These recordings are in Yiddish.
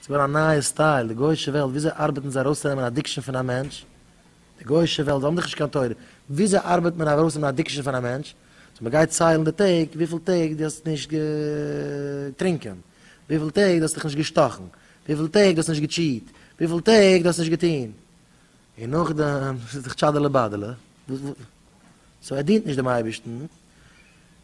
ס'איז געווארן א נייע סטייל, די גוי'אישע וועלט, וויאזוי ארבעטן זיי ארויסצונעמען אדיקשאן פון א מענטש, די גוי'אישע וועלט, זיי האבן דאך נישט קיין תורה, וויאזוי ארבעט מען ארויסנעמען אדיקשאן פון א מענטש, סאו מען גייט ציילן די טעג, וויפיל טעג דו האסט נישט געטרינקען, וויפיל טעג דו האסט דיך נישט געשטאכן, וויפיל טעג דו האסט נישט געטשיעט, וויפיל טעג דו האסט נישט געטון, און נאכדעם, ס'איז דאך טשאדעלע באדעלע, סאו ער דינט נישט דעם אייבערשטן.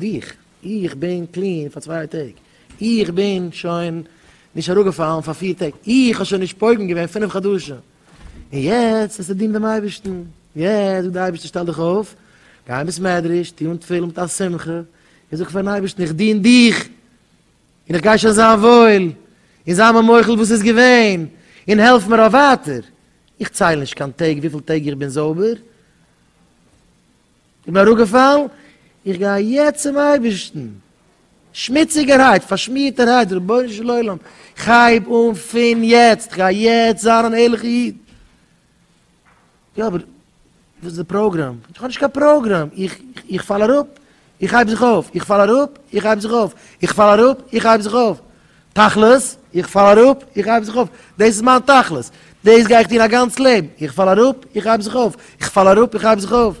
דיך, איך בין קלין פאר צוויי טעג, איך בין שוין נישט אראפגעפאלן פאר פיר טעג, איך האב שוין נישט פוגם געווען פינף חדשים, און יעצט וועסטו דינען דעם אייבערשטן, יעצט זאגט דער אייבערשטער שטעל דיך אויף, גיי אין בית מדרש, טו אן תפילין מיט א שמחה, און זאג פארן אייבערשטן איך דין דיך, און איך גיי שוין זיין וואויל, און זיי מיר מוחל וואס איז געווען, און העלף מיר אויף ווייטער, איך צייל נישט קיין טעג וויפיל טעג איך בין זויבער, כ'בין אראפגעפאלן, איך גיי יעצט צום אייבערשטן, שמוציגערהייט, פארשמירטערהייט, רבונו של עולם, כ'הייב אן פון יעצט, כ'גיי יעצט זיין אן ערליכע איד. יא, אבער וואס איז די פראגראם? איך האב נישט קיין פראגראם, איך פאל אראפ, איך הייב זיך אויף, איך פאל אראפ, איך הייב זיך אויף, איך פאל אראפ, איך הייב זיך אויף. תכלית, איך פאל אראפ, איך הייב זיך אויף, דאס איז מיין תכלית, דאס גיי איך טון א גאנץ לעבן, איך פאל אראפ, איך הייב זיך אויף, איך פאל אראפ, איך הייב זיך אויף.